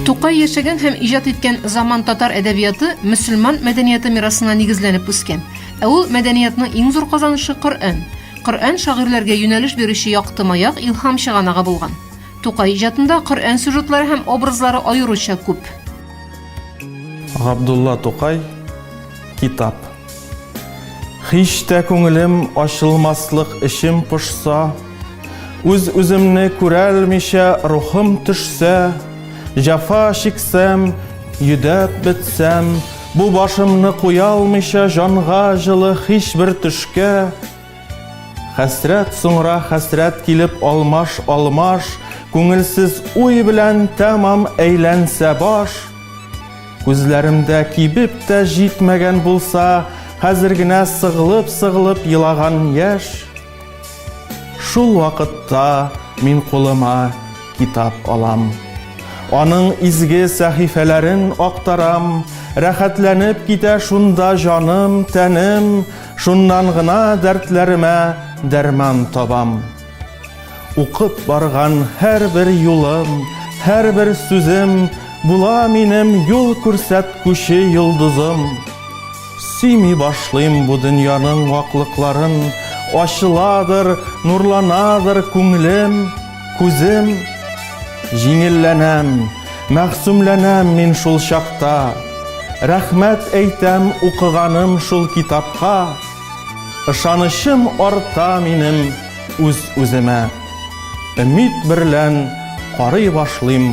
Тукай яшәгән һәм иҗат иткән заман татар әдәбияты мөселман мәдәнияты мирасына нигезләнеп үскән. Ә ул мәдәниятның иң зур казанышы Коръән. Коръән шагыйрьләргә юнәлеш бирүче якты маяк, илһам чыганагы булган. Тукай иҗатында Коръән сюжетлары һәм образлары аеруча күп. Габдулла Тукай китап. Һич тә күңелем ачылмаслык эчем пошса, үз үземне күрәлмичә рухым төшсә, җафа чиксәм, йөдәп бетсәм, бу башымны куялмыйча җанга җылы һич бер төшкә, Хәсрәт соңра хәсрәт килеп алмаш алмаш, Күңелсез уй белән тәмам әйләнсә баш. Күзләремдә кибеп тә җитмәгән булса, Хәзер генә сыгылып-сыгылып елаган яшь. Шул вакытта мин кулыма китап алам. Аның изге сәхифәләрен актарам, Рәхәтләнеп китә шунда җаным, тәнем. Шуннан гына дәртләремә дәрман табам. Укып барган һәрбер юлым, һәрбер сүзем була минем юл күрсәткүче йолдызым. Сөйми башлыйм бу дөньяның ваклыкларын, ачыладыр, нурланадыр күңелем. Күзем җиңелләнәм, мәгъсумләнәм мин шул чакта. Рәхмәт әйтәм укыганым шул китапка. Ышанычым арта минем үз-үземә. Өмид берлән карый башлыйм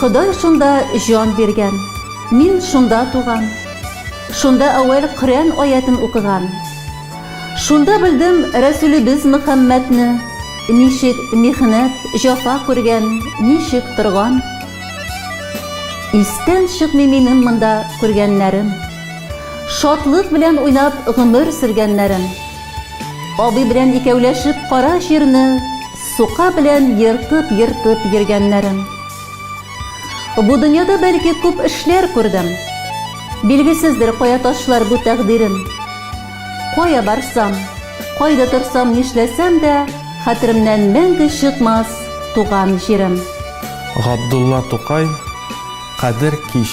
Ходай шунда җан биргән. Мин шунда туган. Шунда әүвәл Коръән аятен укыган. Шунда белдем Рәсүлебез Мөхәммәдне, ничек михнәт, җафа күргән, ничек торган. Истән чыкмый минем монда күргәннәрем. Шатлык белән уйнап гомер сөргәннәрем. Абый белән икәүләшеп кара җирне Сука белән ертып-ертып йөргәннәрем. Бу дөньяда, бәлки, күп эшләр күрдем. Билгесездер кая ташлар бу тәкъдирем. Кая барсам, кайда торсам, нишләсәм дә, хәтеремнән мәңге чыкмас туган җирем. Габдулла Тукай, Кадер кич.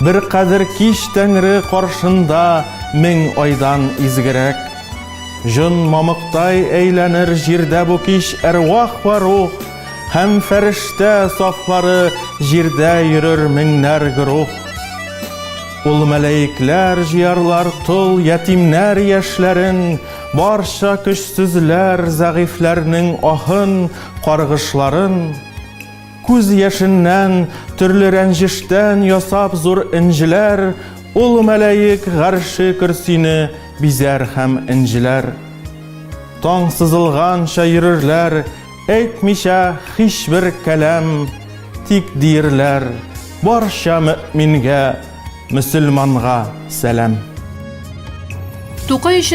Бер кадер кич Тәңре каршында мең айдан изгерәк. Җон мамыктай әйләнер җирдә бу кич әрвах вә рух һәм фәрештә сафлары җирдә йөрер меңнәр гөрух. Ул мәләекләр җыярлар тол ятимнәр яшьләрен, барча көчсезләр, зәгыйфьләрнең аһын, каргышларын. Күз яшеннән, төрле рәнҗештән ясап зур энҗеләр, Ул мәлаик гарше көрсине бизәр һәм энҗеләр. Таң сызылганча йөрерләр, әйтмичә һичбер кәлам, Тик диерләр, Барча мөэмингә, мөселманга сәлам. Тукай өчен